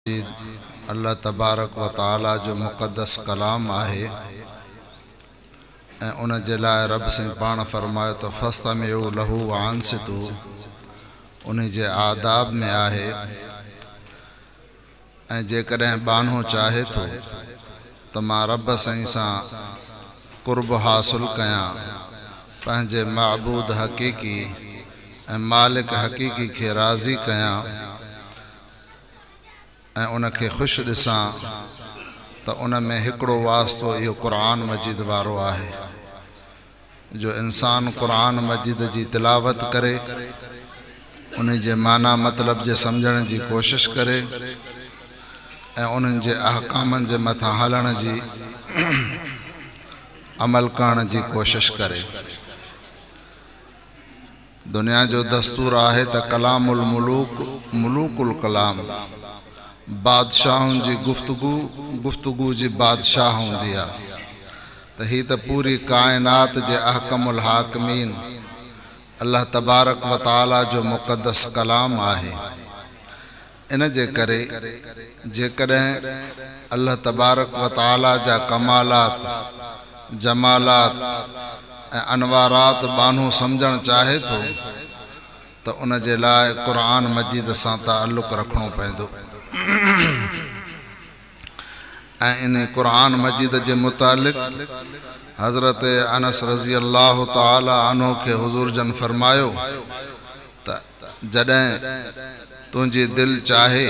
مجيد الله تبارڪ و تعالي جو مقدس ڪلام آهي ۽ ان جي لاء رب سائين پاڻ فرمايو ته فاستمعوا له وانصتوا ان جي آداب ۾ آهي ۽ جيڪڏهن ٻانهو چاهي ٿو ته مان رب سائين سان قرب حاصل ڪيان پنهنجي معبود حقيقي ۽ مالڪ حقيقي کي راضي ڪيان ۽ ان کي خوش ڏسان ته ان ۾ هڪڙو واسطو اهو قرآن مجيد وارو آهي جو انسان قرآن مجيد جي تلاوت ڪري انهي جي معنيٰ مطلب جي سمجهڻ جي ڪوشش ڪري ۽ انهن جي احڪامن جي مٿان هلڻ جي عمل ڪرڻ جي ڪوشش ڪري. دنيا جو دستور آهي ته ڪلام الملوڪ ملوڪ الڪلام، بادشاهن جي گفتگو گفتگو جي بادشاهه هوندي آ ته هي ته پوري ڪائنات جي احڪم الحاڪمين الله تبارڪ وتعاليٰ جو مقدس ڪلام آهي. ان جي ڪري جيڪڏهن الله تبارڪ و تعاليٰ جا ڪمالات، جمالات ۽ انوارات ٻانهو سمجهڻ چاهي ٿو ته ان جي لاء قرآن مجيد سان تعلق رکڻو پوندو ۽ انهي قرآن مجيد جي متعلق حضرت انس رضي الله تعاليٰ عنه کي حضور جن فرمايو ته جڏهن تنهنجي دل چاهي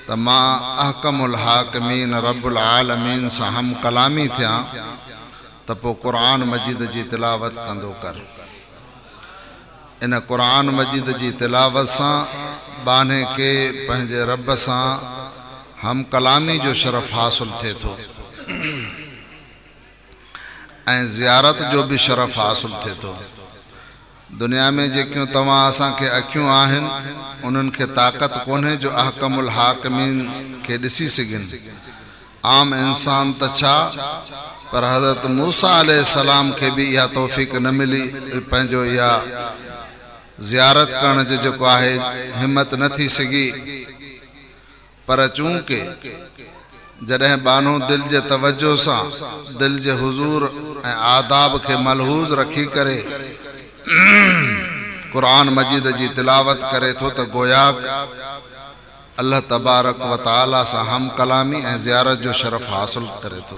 ته مان احڪم الحاڪمين رب العالمين سان هم ڪلامي ٿيان ته پوء قرآن مجيد جي تلاوت ڪندو ڪر. ان قرآن مجيد جي تلاوت سان ٻانهي کي پنهنجي رب سان هم ڪلامي جو شرف حاصل ٿئي ٿو ۽ زيارت جو به شرف حاصل ٿئي ٿو. دنيا ۾ جيڪيون توهان اسان کي اکيون آهن انهن کي طاقت ڪونهي جو احڪم الحاڪمين کي ڏسي سگهن عام انسان ته ڇا پر حضرت موسيٰ عليه السلام کي به اها توفيق نه ملي پنهنجو اها زيارت ڪرڻ جي جيڪو آهي همت نه ٿي سگهي پر چونڪه جڏهن ٻانهو دل جي توجهه سان دل جي حضور ۽ آداب کي ملحوظ رکي ڪري قرآن مجيد جي تلاوت ڪري ٿو ته گوياڪ الله تبارڪ و تعالي سان هم ڪلامي ۽ زيارت جو شرف حاصل ڪري ٿو.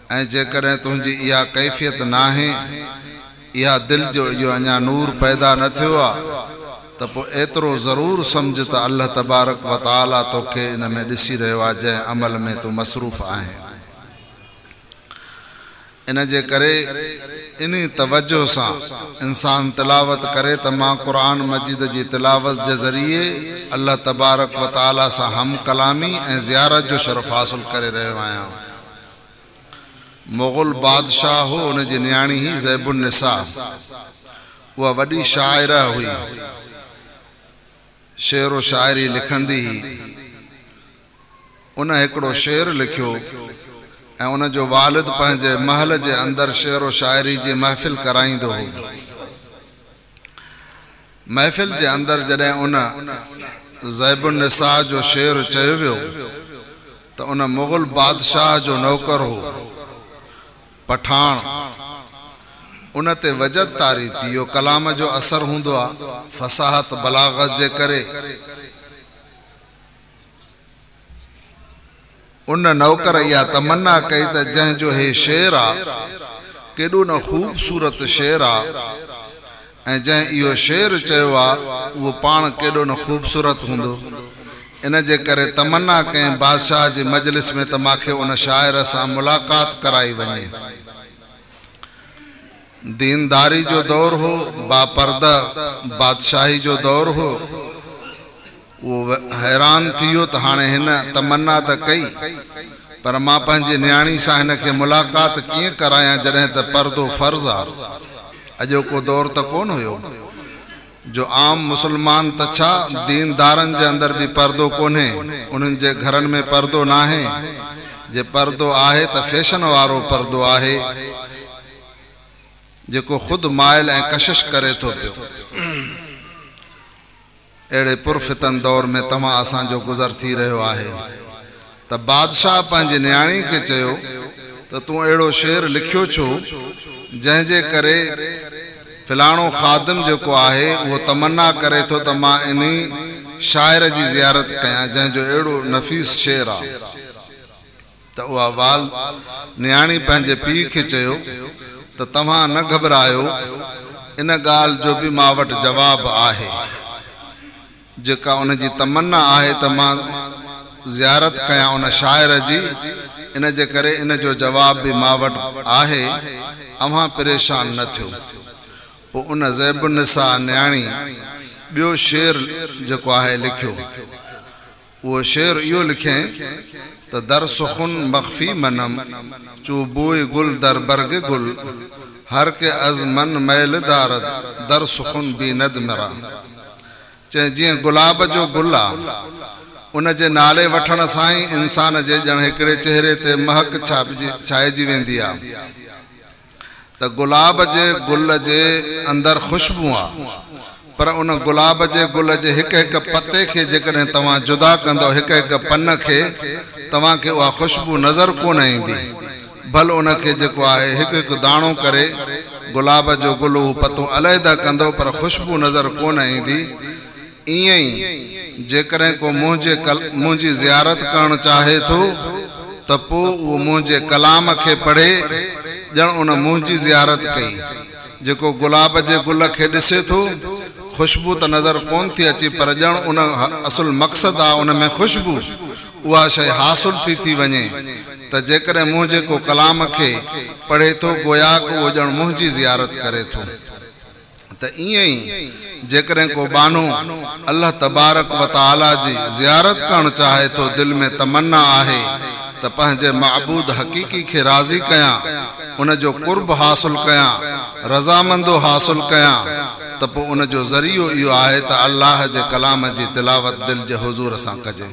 ۽ جيڪڏهن تنهنجي اها ڪيفيت ناهي، اها دل جو اهو اڃا نور پيدا نه ٿيو آهي، ته پوء ايترو ضرور سمجهه ته الله تبارڪ و تعاليٰ توکي ان ۾ ڏسي رهيو آهي جنهن عمل ۾ تون مصروف آهين. ان جي ڪري انهي توجهه سان انسان تلاوت ڪري ته مان قرآن مجيد جي تلاوت جي ذريعي الله تبارڪ و تعاليٰ سان هم ڪلامي ۽ زيارت جو شرف حاصل ڪري رهيو آهيان. مغل بادشاهه هو ان جي نياڻي هئي زيب النساء اها وڏي شاعره هئي شعر و شاعري لکندي هئي ان هڪڙو شعر لکيو ۽ ان جو والد پنهنجي محل جي اندر شعر و شاعري جي محفل ڪرائيندو هو. محفل جي اندر جڏهن ان ذيب النساء جو شعر چيو ويو ته ان مغل بادشاهه جو نوڪر هو پٺاڻ ان تي وجد طاري ٿي اهو ڪلام جو اثر هوندو آهي فصاحت بلاغت جي ڪري ان نوڪر اها تمنا ڪئي ته جنهن جو هي شعر آ، ڪيڏو نه خوبصورت شعر آ ۽ جنهن اهو شعر چيو آ، اهو پاڻ ڪيڏو نه خوبصورت هوندو. ان جي ڪري تمنا ڪئين بادشاهه جي مجلس ۾ ته ماکي ان شاعر سان ملاقات ڪرائي وڃي. دينداري جو دور هو، باپرده بادشاهي جو دور هو. اهو حيران ٿي ويو ته هاڻي هن تمنا ته ڪئي، پر مان پنهنجي نياڻي سان هن کي ملاقات ڪيئن ڪرايان جڏهن ته پردو فرض آ. اڄوڪو دور ته ڪونه هيو. جو عام مسلمان ته ڇا دين دارن جي اندر به پردو ڪونهي، انهن جي گهرن ۾ پردو ناهي، جي پردو آهي ته فيشن وارو پردو آهي، جيڪو خود مائل ۽ ڪشش ڪري ٿو پيو. اهڙي پر فتن دور ۾ توهان اسان جو گذر ٿي رهيو آهي. ته بادشاهه پنهنجي نياڻي کي چيو ته تون اهڙو شعر لکيو ڇو، جنهن جي ڪري فلاڻو خادم جيڪو آهي اهو تمنا ڪري ٿو ته مان انهي شاعر جي زيارت ڪيان، جنهن جو اهڙو نفيس شعر آ. ته اها والد، نياڻي، پنهنجي پيء کي چيو ته توهان نه گهٻرايو، ان ڳالهه جو به مان وٽ جواب آهي. جيڪا ان جي تمنا آهي ته مان زيارت ڪيان ان شاعر جي، ان جي ڪري ان جو جواب به مان وٽ آهي، اوهان پريشان نه ٿيو. پوء ان زيب النساء نياڻي ٻيو شعر جيڪو آهي لکيو. اهو شعر اهو لکيائين ته در سخن مخفي منم، چو بوئي گل در برگ گل، هر ڪي از من مئل دارد، در سخن بيند مرا. چيائين، جيئن گلاب جو گل آ، ان جي نالي وٺڻ سان ئي انسان جي ڄڻ هڪڙي چهري تي مهڪ ڇائجي ويندي آ ته گلاب جي گل جي اندر خوشبو آ، پر ان گلاب جي گل جي هڪ هڪ پتي کي جيڪڏهن توهان جدا ڪندؤ، هڪ هڪ پن کي، توهان کي اها خوشبو نظر ڪونه ايندي. ڀل ان کي جيڪو آهي هڪ هڪ داڻو ڪري، گلاب جو گل هو پتو عليحده ڪندو پر خوشبو نظر ڪونه ايندي. ائين ئي جيڪڏهن ڪو منهنجي منهنجي زيارت ڪرڻ چاهي ٿو ته پوء اهو منهنجي ڪلام کي پڙهي ڄڻ ان منهنجي زيارت ڪئي. جيڪو گلاب جي گل کي ڏسي ٿو، خوشبو ته نظر ڪونه ٿي اچي پر ڄڻ ان اصل مقصد آ ان ۾ خوشبو، اها شيء حاصل ٿي ٿي وڃي ته جيڪڏهن منهنجي ڪو ڪلام کي پڙهي ٿو گوياڪ اهو ڄڻ منهنجي زيارت ڪري ٿو ته ائين ئي جيڪڏهن ڪو ٻانهو الله تبارڪ و تعاليٰ جي زيارت ڪرڻ چاهي ٿو دل ۾ تمنا آهي ته پنهنجي معبود حقيقي کي راضي ڪيان ان جو قرب حاصل ڪيان رضامندو حاصل ڪيان ته پوء ان جو ذريعو اهو آهي ته الله جي ڪلام جي تلاوت دل جي حضور سان ڪجي.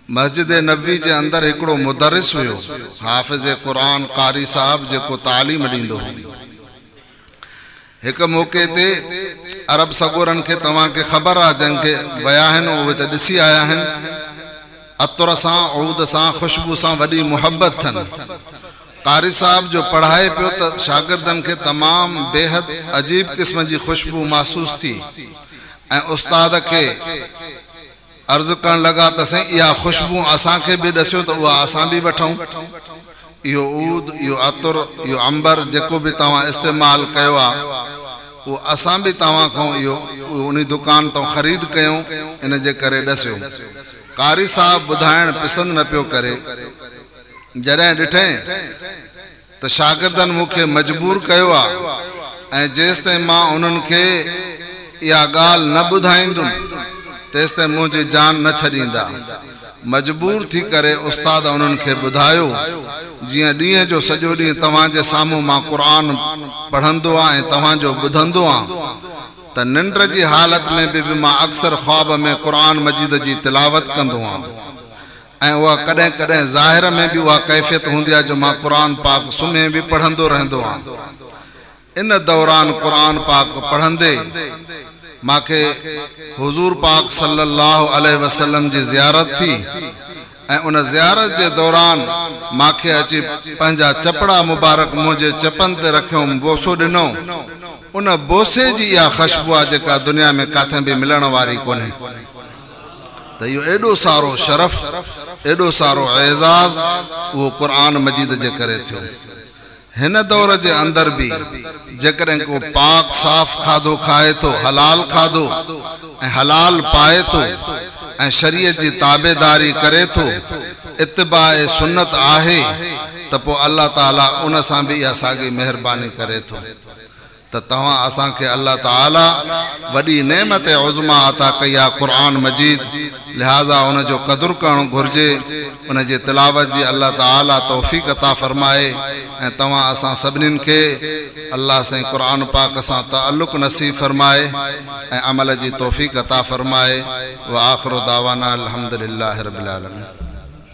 مسجد نبوي جي اندر هڪڙو مدرس هيو، حافظ قرآن قاري صاحب جيڪو تعليم ڏيندو هو. هڪ موقعي تي عرب سڳورن کي توهان کي خبر آ جنهن کي ويا آهن اهي ته ڏسي آيا آهن عطر سان عود سان خوشبو سان وڏي محبت ٿن قاري صاحب جو پڙهائي پيو ته شاگردن کي تمام بيحد عجيب قسم جي خوشبو محسوس ٿي ۽ استاد کي عرض ڪرڻ لڳا ته سائين اها خوشبو اسان کي به ڏسيو ته اها اسان به وٺون اهو عود اهو عطر اهو عنبر جيڪو به توهان استعمال ڪيو آ اهو اسان به توهان کان اهو اهو انهي دڪان تان خريد ڪيون ان جي ڪري ڏسيو قاري صاحب ٻڌائڻ پسند نه پيو ڪري جڏهن ڏٺئين ته شاگردن مون کي مجبور ڪيو آ ۽ جيستائين مان انهن کي اها ڳالهه نه ٻڌائيندم تيستائين منهنجي جان نه ڇڏيندا. مجبور ٿي ڪري استاد انهن کي ٻڌايو جيئن ڏينهن جو سڄو ڏينهن توهان جي سامهون مان قرآن پڙهندو آ ۽ توهان جو ٻڌندو آ ته ننڊ جي حالت ۾ به مان اڪثر خواب ۾ قرآن مجيد جي تلاوت ڪندو آ. ۽ اها ڪڏهن ڪڏهن ظاهر ۾ به اها ڪيفيت هوندي آهي جو مان قرآن پاڪ سمهي به پڙهندو رهندو آهيان. ان دوران قرآن پاڪ پڙهندي مان کي حضور پاڪ صلي الله عليه وسلم جي زيارت ٿي ۽ ان زيارت جي دوران مان کي اچي پنهنجا چپڙا مبارڪ منهنجي چپن تي رکيوم بوسو ڏنو ان بوسي جي اها خشبو آهي جيڪا دنيا ۾ ڪاٿي به ملڻ واري ڪونهي. ته اهو ايڏو سارو شرف، ايڏو سارو اعزاز اهو قرآن مجيد جي ڪري ٿيو. هن دور جي اندر به جيڪڏهن ڪو پاڪ صاف کاڌو کائي ٿو، حلال کاڌو ۽ حلال پائي ٿو ۽ شريعت جي تابعداري ڪري ٿو، اتباع سنت آهي ته پوء الله تعاليٰ ان سان به اها ساڳي مهرباني ڪري ٿو. ته توهان اسان کي الله تعالي وڏي نعمت عظميٰ عطا ڪئي آهي قرآن مجيد، لهٰذا ان جو قدر ڪرڻ گهرجي، ان جي تلاوت جي الله تعالي توفيق عطا فرمائي ۽ توهان اسان سڀنين کي الله سائين قرآن پاڪ سان تعلق نصيب فرمائي ۽ عمل جي توفيق عطا فرمائي وآخر دعوانا الحمدلله رب العالمين.